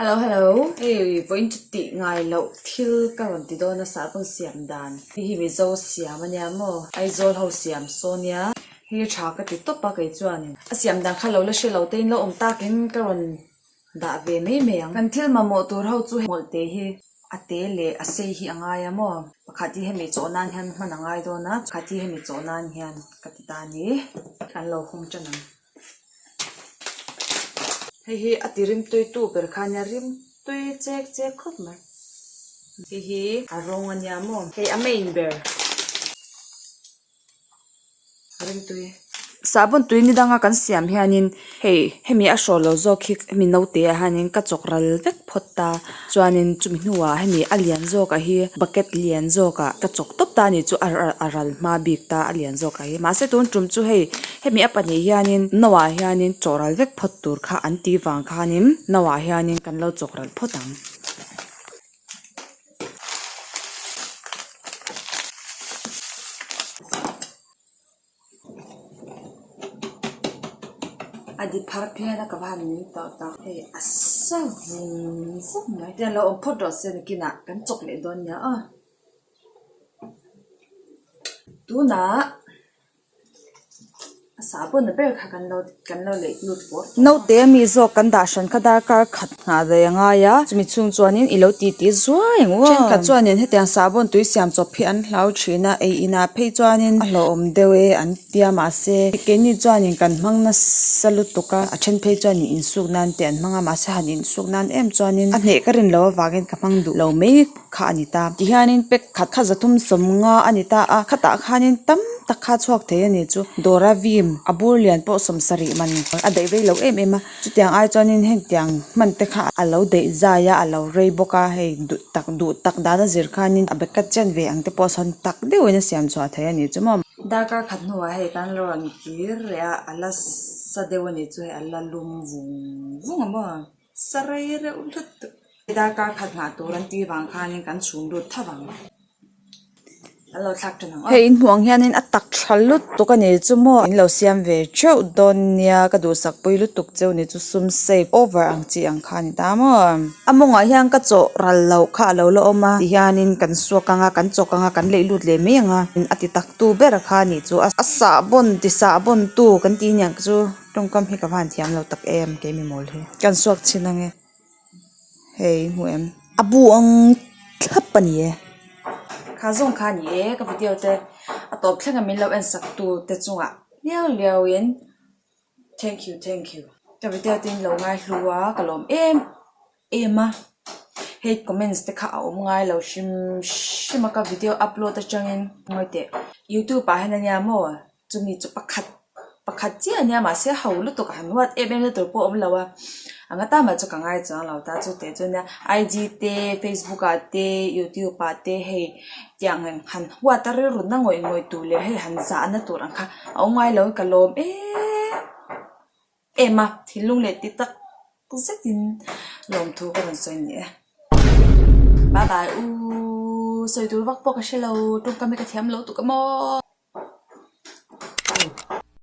Hello hello hei pawi in chuti ngai loh thil ka rawn ti dawn a sahbawn siam dan hei hi mizo siam a nia maw Aizawl ho siam saw nia hei hi tha ka ti tawp a kei chuan in a siam dan kha lo la hre lo te in la awm tak in ka rawn dah ve mai mai ang kan thil mamawh tur ho chu hmawlh te hi a te leh a sei hi a ngai a maw pakhat hi hemi chawh nan hian hman a ngai dawn a pakhat hi hemi chawh nan hian ka ti ta a ni kan lo hawng tan ang. hei hi a ti rimtuitu ber kha nia rimtui chek chek khawp mai hei hi a rawng a nia maw hei a main ber rimtui sahbawn tui ni danga kan siam hianin hei hemi a hrawllo zawk hi hemi naute ah hianin ka chawk ral vek. phawt ta chuanin chumi hnuah hemi a lian zawkah hi bucket lian zawkah ka chawk tawp ta a nih chu a a a ral hma bik ta a lian zawkah hi mahse tun tum chu hei hemi a pahnih hianin no ah hianin chawh ral vek phawt tur kha an ti vang khanin no ah hianin kan lo chawk ral phawt ang. a di phar phei a ka va han ning tawh tak hei a sa vun vun mai te an lo awm phawt rawh se ni kin ah kan chawk leh dawn nia aw tunah a sahbawn ber kha kan lo ti-- Naute ami zawk kan dah hran kha darkar khat nghah daih a ngai a, chumi chung chuanin i lo titi zuai ang u a. Thenkhat chuanin hetiang sahbawn tui siam chawp hi an hlau thin a, ei inah phei chuanin a hlauhawm deuh e an tia mahse, keini chuanin kan hmang nasa lutuk a, a then phei chuan i insuk nan te an hmang a mahse han insuk nan em chuanin a hneh ka rinlo avangin ka hmang duh lo mai. kha a ni ta ti hianin pack khat kha za thum sawm nga a ni ta a khatah khanin tam tak kha chhuak thei a ni chu dawr a vim a bur lian pawh sawm sarih man a daih vei loh em em a chutiang ai chuanin heng tiang hman te kha a lo daih zai a a lo rei bawk a hei duh tak duh tak dana zir khanin a bag a chen ve ang te pawh a sawn tak deuh in a siam chhuah thei a ni chu maw. Darkar khat hnuah hei kan lo rawn kir leh a a la sa deuh a ni chu hei a la lum vung vung a maw. Sarai reuh hlut duh. Darkar khat nghah tur an ti vang khanin kan chhum lut tha vang a. Kan lo thlak tha nang. Hei in hmuh ang hianin a tak tha lut tuk a nei chu maw? In lo siam ve teuh dawn nia, ka duhsak pui lutuk cheu ni chu sum save over ang chi ang kha a ni ta maw? A mawngah hian ka chawh ral loh kha a lo la awm a, ti hianin kan suak anga, kan chawk anga, kan leih lut leh mai anga, a ti taktu ber kha a nih chu. A sahbawn, ti sahbawn tu kan tih aniang chu. Tawngkam hi ka va an thiam lo tak em kei mi mawl hi. Ka insuak chhin ange hei in hmuh em. A buang thlap ani e. Kha zawng kha ani e ka video te a tawp thleng a min lo en sak tu te chunga liau liau in thank you thank you. Ka video te in lo ngai hlu a ka lawm em. Ema hate comments te kha a awm ngai lo hrim hrim a ka video upload atangin ngawi teh youtube ah hian ania maw chumi chu pakhat pakhat chiah ania mahse ho lutuk ah han what app em na tur pawh a awm lo a ang ata mah chu ka ngai chuang lo ta chutah chuan nia IG te facebook ah te youtube ah te hei tiang in han what a rilru na ngawih ngawih tur leh hei han zah na tur ang kha a awm ngai lo ka lawm eeee. em a, thil lung leh ti tak zetin lawm thu ka rawn sawi a ni e. Bye bye u, sawi tur vak pawh ka hre lo, tawngkam hi ka thiam lo tuk em aw.